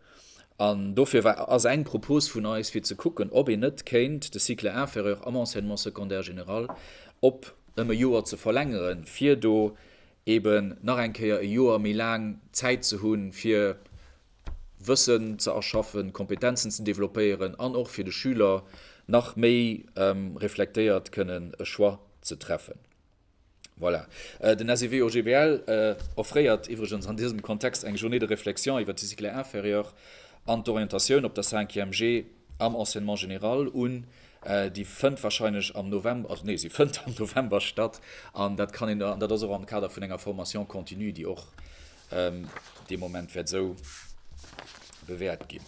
An dofir ass eng Propos vun eis, fir ze kucken, ob een net kéint de Cycle inférieur am Enseignement secondaire général op ëm e Joer ze verlängeren, fir do eben nach eng Kéier e Joer méi laang Zäit ze hunn, fir Wëssen ze erschaffen, Kompetenzen ze developpéieren an och fir de Schüler nach méi reflektéiert kënnen e Choix ze treffen. Voilà. Den SEW OGBL offréiert iwwregens an dësem Kontext eng Journée de réflexion iwwert de Cycle inférieur an d'Orientatioun op der Cinquième G am Enseignement général un. Déi fënnt wahrscheinlech am November, also nee, si fënnt am November statt an dat kann een, an dat ass och am Kader vun enger Formation continue, déi och dee Moment wäert esou bewäert ginn.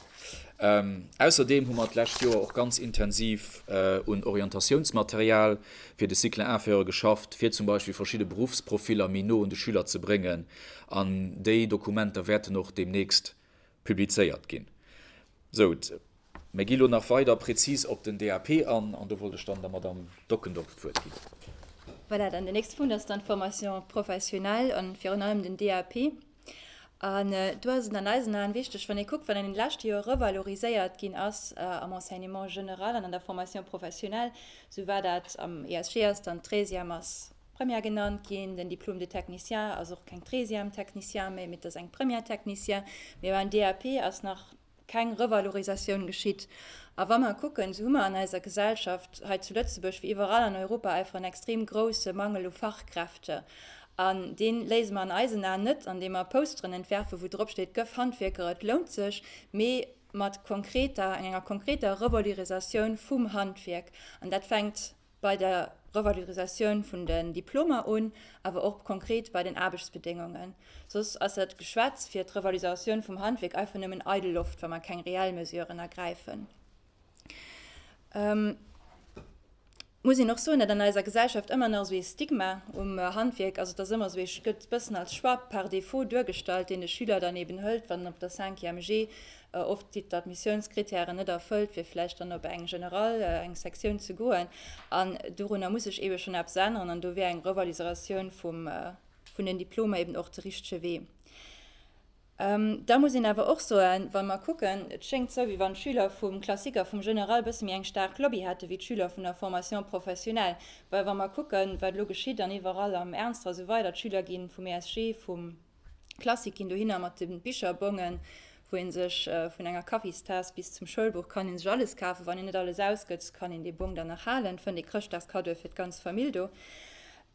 Ausserdeem hu mer d'lescht Joer och ganz intensiv un Orientatiounsmaterial fir de Cycle inférieur geschafft, fir zum Beispill verschidde Beruffsprofiller méi no un de Schüler ze bréngen an déi Dokumenter wäerten och deemnächst publizéiert ginn. Sou, mir gi lo nach weider prezis op den DAP an, an do wollt ech dann der Madamm Dockendorf d'Wuert ginn. Voilà, dann deen nächste Punkt ass dann d'Formation professionnelle an virun allem den DAP. An do ass et an eisen Aen wichtig, wann ee kuckt, wat an deene leschte Joer revaloriséiert ginn ass am Enseignement général an an der Formation professionnelle, sou war dat am ESG ass dann d'Treizième, ass Première genannt ginn. Den Diplôme de technicien ass och keng Treizième technicien méi, mee et ass eng Première technicien. Mee beim DAP ass nach keng Revalorisatioun geschitt. A wa mer kucken, esou hu mer an eiser Gesellschaft hei zu Lëtzebuerg wéi iwwerall an Europa einfach en extrem grouse Mangel u Fachkräfte. An dee léise mer an eisen Aen net, andeem mer Posteren entwerfen, wou drop steet, Gëff Handwierker, et lount sech, mee mat konkreter, enger konkreter Revalorisatioun vum Handwierk. An dat fänkt. bei der Revalorisatioun vun den Diplomer un, awer och konkret bei den Aarbechtsbedéngungen. Soss ass dat Geschwätz fir d'Revalorisatioun vum Handwierk einfach nëmmen eidel Loft, wa mer keng reell Mesuren ergräifen. Ech muss een och soen, datt an eiser Gesellschaft ëmmer nach esou ee Stigma um Handwierk ass, et ass ëmmer esou, et gëtt e bëssen als Choix par défaut duergestallt, deen de Schüler dann eeben hëlt, wann en op der Cinquième G Oft si d'Admissiounskritären net erfëllt, fir vläicht dann op eng General, eng Sektioun ze goen. An dorunner muss sech eebe schonn eppes änneren. An do wär eng Revaliseratioun vum, vun den Diplomer eeben och de richtege Wee. Da muss een awer och soen, wa mer kucken, et schéngt esou, wéi wann d'Schüler vum Classique a vum General e bësse méi eng staark Lobby hätte wéi d'Schüler vun der Formation professionnelle. Well wa mer kucken, wat elo geschitt an iwwerall am Ernstre a sou weider, d'Schüler gi vum ESG, vum Klassik ginn dohinner mat de Bicherbongen, wou ee sech vun enger Kaffistaass bis zum Schoulbuch kann ee sech alles kafen. Wann een net alles ausgëtt, kann een dee Bong dann nach halen, fënnt ee Chrëschtdagskaddoe fir d'ganz Famill do.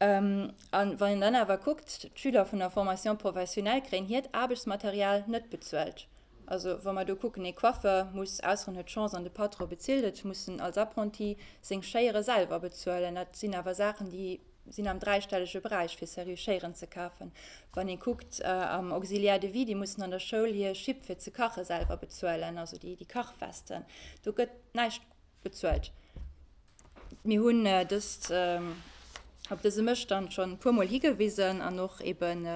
A wann een dann awer kuckt, d'Schüler vun der Formation professionnelle kréien hiert Aarbechtsmaterial net bezuelt. Also wa mer do kucken, ee Coiffeur muss, ausser en huet d'Chance an de Patron bezilt et, muss en als Apprenti seng Schéiere selwer bezuelen. Dat sinn awer Saachen, déi sinn am dräistellege Beräich fir Serrurieren ze kafen. Wann ee kuckt am Auxiliaire de vie, déi mussen an der Schoul hir Schipp fir ze kache selwer bezuelen, also déi Kachwesten, do gëtt näischt bezuelt. Mir hunn dëst op dëse Mësstand schonn e puermol higewisen an och eben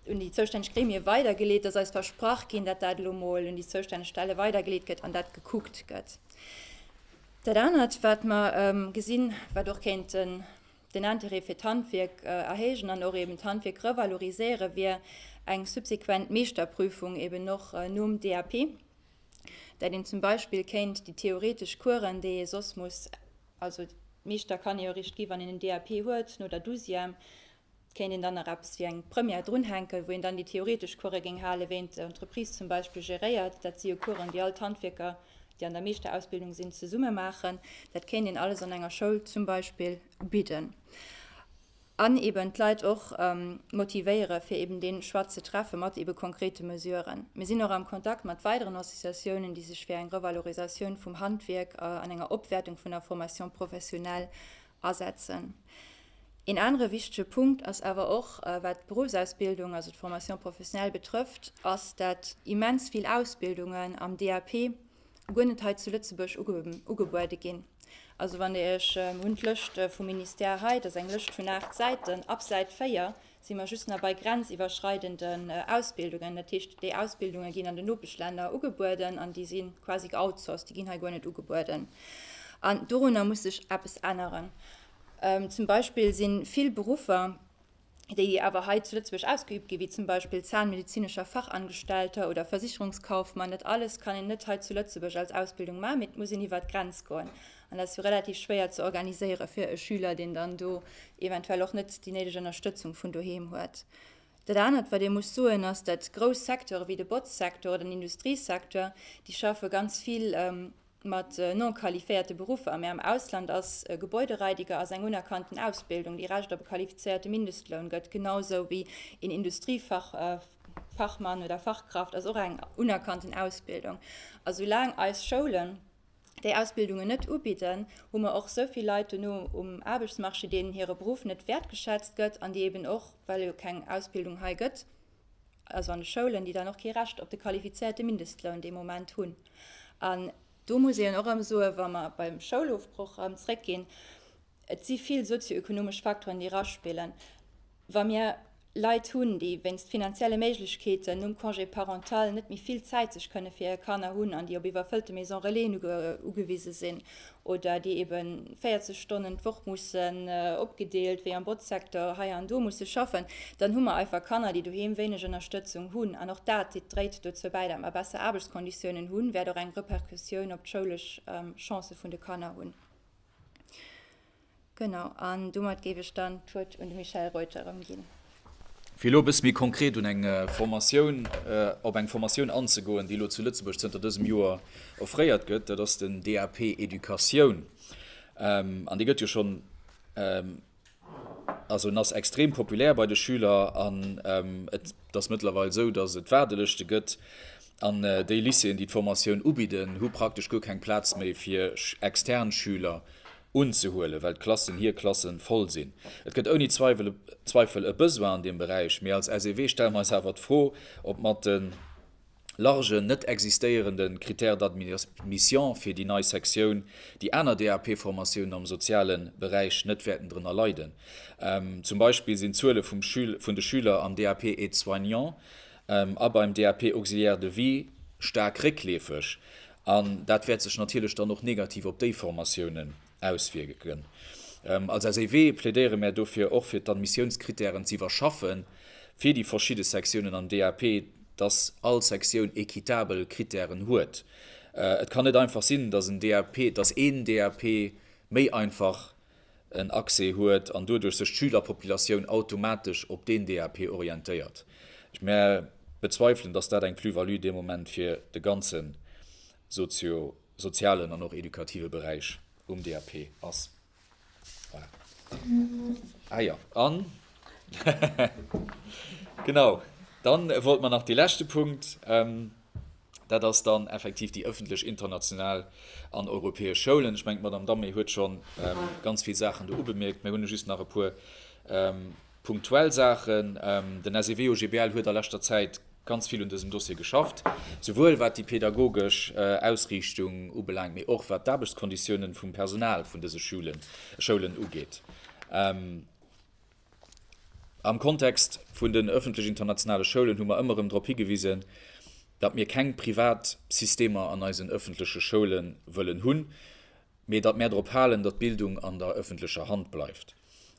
un déi zoustänneg Gremie weidergeleet, dass eis versprach ginn, datt dat elo mol un déi zoustänneg Stelle weidergeleet gëtt an dat gekuckt gëtt. Dat anert, wat mer gesinn, wat och kéint den Intérêt fir d'Handwierk erhéijen an och eeben d'Handwierk revaloriséieren, wier eng subsequent Meeschterprüfung eeben och nom DAP, dat een zum Beispill kéint déi theoretesch Coursen, déi ee soss muss, also Meeschter kann ee jo eréischt gi wann een en DAP huet, no der Douzième, Et kéint een dann nach eppes wéi eng Première drunhänken, wou een dann déi theoretesch Course géing halen, wéi een d'Entreprise zum Beispill geréiert. Dat si jo Coursen, déi all d'Handwierker, déi an der Meeschterausbildung sinn, zesumme maachen. Dat kéint een alles an enger Schoul zum Beispill bidden an eeben d'Leit och motivéiere fir eeben dee Choix ze treffe mat eebe konkrete Mesuren. Mir sinn och am Kontakt mat weideren Associatiounen, déi sech fir eng Revalorisatioun vum Handwierk an enger Opwäertung vun der Formation professionnelle asetzen. Een anere wichtege Punkt ass awer och, wat d'Beruffsausbildung, also d'Formation professionnelle betrëfft, ass, dat immens vill Ausbildungen am DAP guer net hei zu Lëtzebuerg ugebuede ginn. Also wann Dir Iech, mir hunn d'Lëscht vum Ministère hei, dat ass eng Lëscht vun aacht Säiten, ab Säit 4 Si mer just nach bei grenziwwerschreidenden Ausbildungen. Dat heescht, déi Ausbildunge ginn an den Nopeschlänner ugebueden an déi si quasi geoutsourced, déi ginn hei guer net ugebueden. An dorunner muss sech eppes änneren. Ähm, zum Beispill si vill Beruffer, déi awer hei zu Lëtzebuerg ausgeübt ginn, wéi zum Beispill zahnmedizinischer Fachangestellter oder Versicherungskaufmann, dat alles kann een net hei zu Lëtzebuerg als Ausbildung maachen, mee et muss een iwwert d'Grenz goen. An dat ass jo relativ schwéier ze organiséiere fir e Schüler, deen dann do eventuell och net déi néideg Ënnerstëtzung vun doheem huet. Dat anert, wat ee muss soen, ass, datt grouss Secteure wéi de Botzsecteur oder den Industriesecteur, déi schaffe ganz vill mat non-qualiféierte Beruffer. Mä am Ausland ass e Gebäudereidiger ass eng unerkannten Ausbildung, déi Recht op e qualifizéierte Mindestloun gëtt, genau esou wéi een Industriefachmann oder fachkraft ass och eng unerkannten Ausbildung. A soulaang eis Schoulen, déi Ausbildungen net ubidden, hu mer och esou vill Leit dono um Aarbechtsmarché, deenen hire Beruff net wäertgeschätzt gëtt an déi eben och, well jo keng Ausbildung hei gëtt, also an de Schoulen, déi dann och kee Recht op de qualifizierte Mindestloun dee Moment hunn. An do muss een och erëm soen, wa mer beim Schoulofbroch erëm zréckginn, Et si vill sozio-ökonomesch Faktoren, déi eraspillen. Wa mir Leit hunn, déi wéinst finanzielle Méiglechkeeten nom Congé parental net méi vill Zäit sech kënne fir hir Kanner hunn an déi op iwwerfëllte Maison Relaisen ugewise sinn oder déi ebe 40 Stonnen d'Woch mussen, opgedeelt wéi am Botzsektor, hei an do musse schaffen, dann hu mer einfach Kanner, déi doheem wéineg Ënnerstëtzung hunn. An och dat dréit dozou bäi, datt mer besser Aarbechtskonditiounen hunn, wäert och eng Repercussioun op d'schoulesch Chancë vun de Kanner hunn. Genau, an domat géif ech dann d'Wuert un de Michel Reuter erëmginn. Fir elo e bësse méi konkret un eng Formatioun, op eng Formatioun anzegoen, déi elo zu Lëtzebuerg zënter dësem Joer offréiert gëtt. Dat ass den DAP Educatioun. An dee gëtt jo schonn. Also en ass extrem populär bei de Schüler an et ass mëttlerweil esou, datt et Waardelëschte gëtt. An déi Lycéeën, déi d'Formatioun ubidden, hu praktesch guer keng Plaz méi fir extern Schüler unzehuelen, well d'Klassen, hir Klassen, voll sinn. Et gëtt ouni Zweifel e Besoin an deem Beräich, mee als SEW stelle mer eis awer d'Fro, ob mat de. largen, net existéierende Critère d'admission fir déi nei Sektioun, déi aner DAP-Formatiounen am soziale Beräich net wäerten drënner leiden. Zum Beispill sinn d'Zuele vun de Schüler am DAP Aide-soignant a beim DAP Auxiliaire de vie staark réckleefeg, an dat wäert sech natierlech dann och negativ op déi Formatiounen auswierken. Als SEW plädéiere mär dofir och fir d'Admissiounskritären ze iwwerschaffe fir déi verschidde Sektiounen am DAP, dass all Sektioun équitabel Kritären huet. Et kann net einfach sinn, dass en DAP, dass een DAP méi einfach en Accès huet an doduerch sech d'Schülerpopulatioun automatesch op deen DAP orientéiert. Mär bezweifelen, dass dat eng Plus-value dee Moment fir de ganze Socio. sozialen an och edukative Beräich um DAP ass. Voilà. Ah ja, an genau, dann wollt man nach de leschte Punkt. Ähm, dat ass dann effektiv die öffentlich international an europäesch Schoulen. Ich mengt Madame Damme huet schon ähm, ganz viel Sachen do ubemerkt, mir hunne just nach e puer ähm, Punktuell Saachen, Den SEW-OGBL huet a leschter Zäit ganz vill un dësem Dossier geschafft, souwuel wat déi pedagogesch Ausriichtung ubelaangt, mee och wat d'Aarbechtskonditiounen vum Personal vun dëse Schoulen ugeet. Am Kontext vun den ëffentlech internationale Schoulen hu mer ëmmer erëm drop higewisen, datt mir keng privat Systemer an eisen ëffentleche Schoule wëllen hunn, mee datt mär drop halen, datt d'Bildung an der ëffentlecher Hand bleift.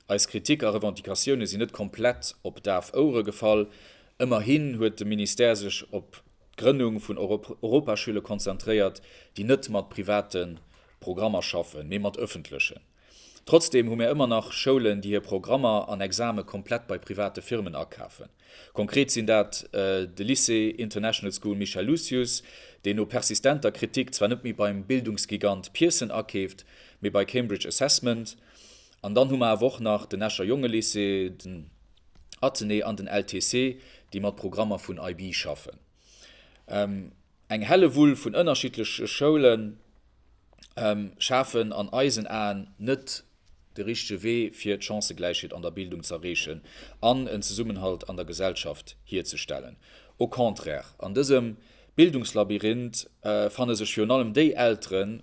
Eis Kritik a Revendicatioune sinn net komplett op daf Ouere gefall. Ëmmerhin huet de Ministère sech op d'Grënnung vun Europaschüle konzentréiert, déi net mat private Programmer schaffen, mee mat ëffentlechen. Trotzdeem hu mär ëmmer nach Schoulen, déi hir Programmer an Exame komplett bei private Firmen akafen. Konkret sinn dat de Lycée International School Michel Lucius, deen no persistenter Kritik zwar net méi beim Bildungsgigant Pearson akeeft, mee bei Cambridge Assessment, An dann hu mer awer och nach den Escher Jongelycée, den Athenée an den LTC, déi mat Programmer vun IB schaffen. Eng Hellewull vun ënnerschiddleche Schoule schafen an eisen Aen net de richtege Wee, fir d'Chancëgläichheet an der Bildung z'erreechen an en Zesummenhalt an der Gesellschaft hierzestellen. Au contraire, an dësem Bildungslabyrinth fanne sech virun allem déi Elteren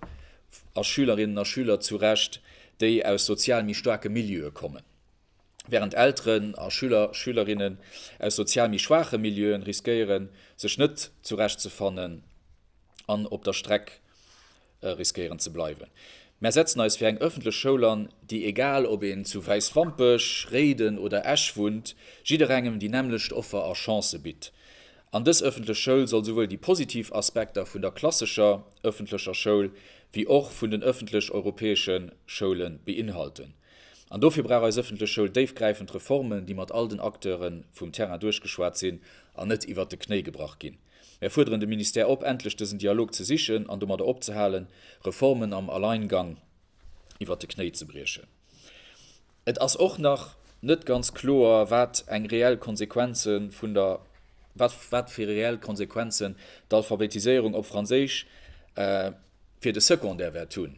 a Schülerinnen a Schüler zurecht, déi aus sozial méi staarke Milieue kommen, wärend Elteren a Schüler, Schülerinnen aus sozial méi schwaache Milieuen riskéieren, sech net zurechtzefannen an op der Streck riskéieren ze bleiwen. Mär setzen eis fir eng ëffentlech Schoul an, déi, egal ob een zu Wäiswampech, Réiden oder Esch wunnt, jidderengem déi nämmlecht Offer a Chancë bitt. An dës ëffentlech Schoul soll souwuel déi positiv Aspekter vun der klassescher ëffentlecher Schoul wéi och vun den ëffentlech-europäesche Schoule beinhalten. An dofir brauch eis ëffentlech Schoul déifgräifend Reformen, déi mat all den Acteure vum Terrain duerchgeschwat sinn an net iwwert de Knéi gebrach ginn. Mär fuerderen de Ministère op, endlech dësen Dialog ze sichen an domadder opzehalen, Reformen am Alleingang iwwert de Knéi ze briechen. Et ass och nach net ganz kloer, wat eng reell Konsequenze vun der. Wat fir reell Konsequenzen d'Alphabetiséierung op Franséisch fir de Secondaire wäert hunn.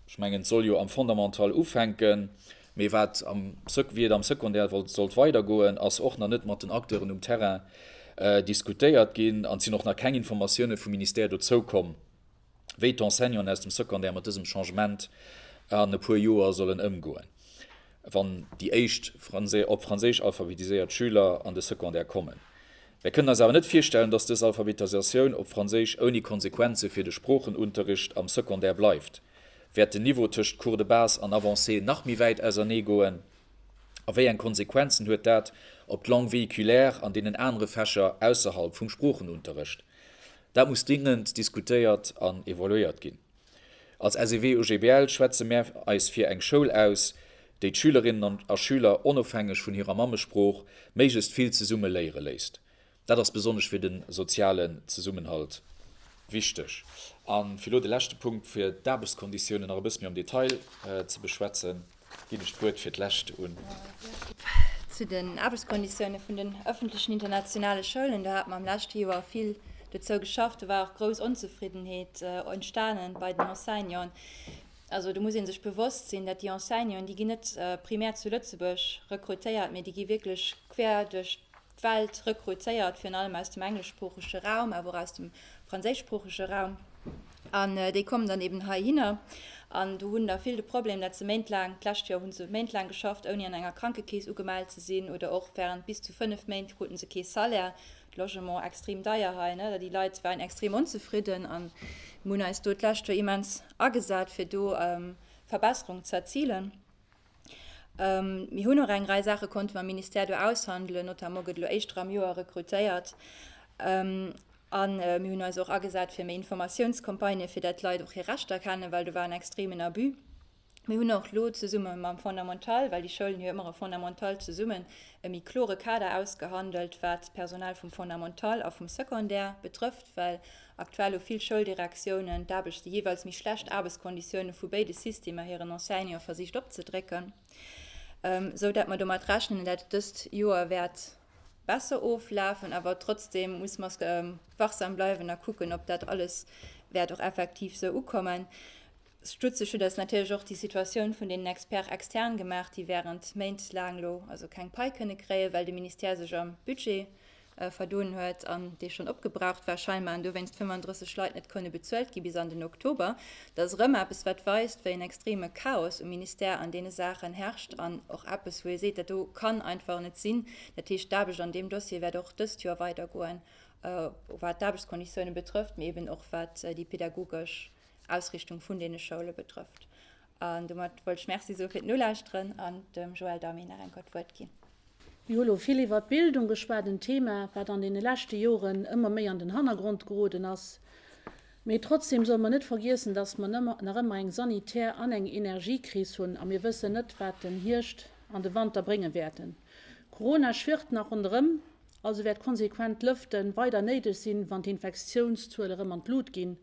Ech mengen, et soll jo am Fondamental ufänken, mee wat am, wéi et am Secondaire wollt, sollt weidergoen, ass och nach net mat den Acteuren um Terrain diskutéiert ginn. An et sinn och nach keng Informatioune vum Ministère dozou komm, wéi d'Enseignanten aus dem Secondaire mat dësem Changement an e puer Joer sollen ëmgoen, wann déi éischt op Franséisch alphabetiséiert Schüler an de Secondaire kommen. Mir kënnen eis awer net virstellen, dass dës Alphabetisatioun op Franséisch ouni Konsequenze fir de Sproochenunterricht am Secondaire bleift. Wäert den Niveau tëscht Cours de base an avancé nach méi wäit ausernee goen? A wéi eng Konsequenzen huet dat op d'Langue véhiculaire an deenen anere Fächer ausserhalb vum Sproochenunterricht? Dat muss dringend diskutéiert an evaluéiert ginn. Als SEW-UGBL schwätze mär eis fir eng Schoul aus, déi d'Schülerinnen a Schüler onofhängeg vun hirer Mammesprooch méiglechst vill zesumme léiere léisst. Dat ass besonnesch fir de sozialen Zesummenhalt wichteg. A fir elo de leschte Punkt, fir d'Aarbechtskonditiounen nach e bësse méi am Detail ze beschwätzen. Ginn ech d'Wuert fir d'lescht un. Zu den Aarbechtskonditioune vun den ëffentlechen internationale Schoulen, do hat mer am leschte Joer vill dozou geschafft. Do war och grouss Onzefriddenheet entstanen bei den Enseignanten. Also do muss ee sech bewosst sinn, datt déi Enseignanten, déi ginn net primär zu Lëtzebuerg rekrutéiert, mee déi gi wierklech quer duerch D'Welt rekruzéiert virun allem aus dem engleschsproochege Raum, awer och aus dem franséischsproochege Raum. An déi kommen dann eben heihinner an do hunn da vill de Problem, dat se méintlaang, d'lescht Joer hu se méintlaang geschafft, ouni an enger Krankekeess ugemellt ze sinn oder och während bis zu fënnef Méint krute se kee Salaire. Logement extrem deier hei, ne? Déi Leit waren extrem onzefridden an mir hunn eis do d'lescht Joer immens agesat, fir do Verbesserungen ze erzilen. Mir hunn och eng Rei Saache konnte mam Ministère do aushandelen, notamment gëtt elo éischter am Joer rekrutéiert. A mir hunn eis och agesat fir méi Informatiounscampagnë fir dat d'Leit och hir Rechter kennen, well do war en extremen Abus. Mir hunn och elo zesumme mam Fondamental, well déi Schoulen hu jo ëmmer e Fondamental zesummen, e méi klore Kader ausgehandelt, wat d'Personal vum Fondamental a vum Secondaire betrëfft, well Aktuell hu vill Schouldirektiounen d'Aarbecht déi jeeweils méi schlecht Aarbechtskonditioune vu béide Systemer hiren Enseignante versicht opzedrécken, sou dat mer domat rechnen, dat et dëst Joer wäert besser oflafen. Awer trotzdeem muss mer wachsam bleiwen a kucken, ob dat alles wäert och effektiv esou ukommen. Stutzeg huet eis natierlech och déi Situatioun vun deenen Experts externe gemaach, déi wärend Méint laang elo also keng Pai kënne kréien, well de Ministère sech am Budget verdoen huet an dee schonn opgebraucht war scheinbar an dowéinst 35 Leit net konnte bezuelt gi bis an den Oktober. Dat ass erëm eppes, wat weist, wéi en extreme Chaos um Ministère an deene Saachen herrscht an och eppes, wou ee seet, dat do kann einfach net sinn. Dat heescht, d'Aarbecht an deem Dossier wäert och dëst Joer weidergoen, wat d'Aarbechtsconditiounen betrëfft, mee eeben och wat déi pädagogesch Ausrichtung vun deene Schoule betrëfft. An domat wollt ech Merci soe fir d'Nolauschteren an dem Joël Damy nach eng Keier d'Wuert ginn. Mir hu lo vill iwwert d'Bildung geschwat, en Thema, wat an deene leschte Joren ëmmer méi an den Hannergrond geroden ass. Mee trotzdeem solle mer net vergiessen, dass mer nach ëmmer eng Sanitär an eng Energiekris hunn a mir wëssen net, wat den Hierscht an de Wanter brénge wäerten. Corona schwirrt nach ronderëm, also wäert konsequent Lëfte weider néideg sinn, wann d'Infektiounszuele rëm an d'Lut ginn.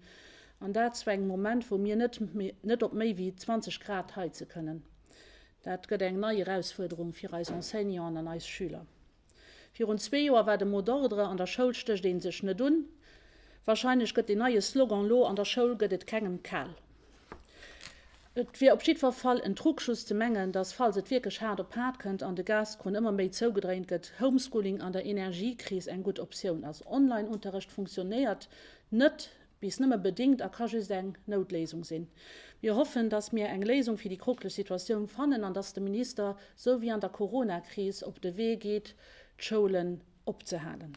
An dat zu engem Moment, wou mir net net op méi wéi 20 Grad heize kënnen. Dat gëtt eng nei Erausfuerderung fir eis Enseignanten an eis Schüler. Virun zwee Joer war de Mot d'ordre, An der Schoul stécht ee sech net un. Warscheinlech gëtt den neie Slogan elo, An der Schoul gëtt et kengem kal. Et wier op jiddwer Fall en Trugschuss ze mengen, datt falls et wierklech haart op haart kënnt an de Gaskrunn ëmmer méi zougedréint gëtt, Homeschooling an der Energiekris eng gutt Optioun ass. Online-Unterrecht funktionéiert net, bis nëmme bedingt a ka just eng Noutléisung sinn. Mir hoffen, dass mir eng Léisung fir déi kroklech Situatioun fannen an dass de Minister, sou wéi an der Coronakris, op de Wee geet, d'Schoulen opzehalen.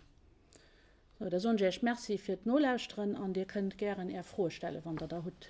Sou, da soen ech Iech Merci fir d'Nolauschteren an Dir kënnt gären Är Froe stellen, wann Der der hutt.